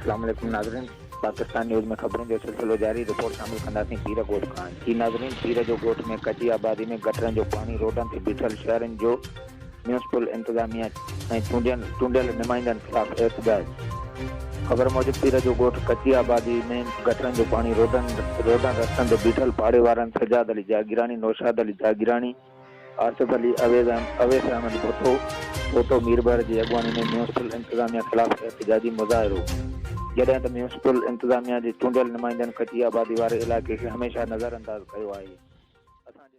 اسلام عليڪم ناظرين پاڪستان نيوز ۾ خبرن جو سلسلو جاري رپورٽ شامل ڪنداسين پير ڳوٺ کان جي ناظرين پير جو ڳوٺ ۾ ڪچي آبادي ۾ گٽرن جو پاڻي روڊن تي بيٺل شهرين جو ميونسپل انتظاميا ۽ چونڊيل چونڊيل نمائندن خلاف احتجاج خبر موجب پير جو ڳوٺ ڪچي آبادي ۾ گٽرن جو پاڻي روڊن روڊن رستن تي بيٺل پاڙي وارن سجاد علي جاگيراڻي نوشاد علي جاگيراڻي آصف علي اويس ايم اويس احمد ڀٽو ڀوٽو ميربحر جي اڳواڻي ۾ ميونسپل انتظاميا خلاف احتجاجي مظاهرو جڏهن ته ميونسپل انتظاميا جي چونڊيل نمائندن ڪچي آبادي واري علائقي کي هميشه نظرانداز ڪيو آهي اسان جي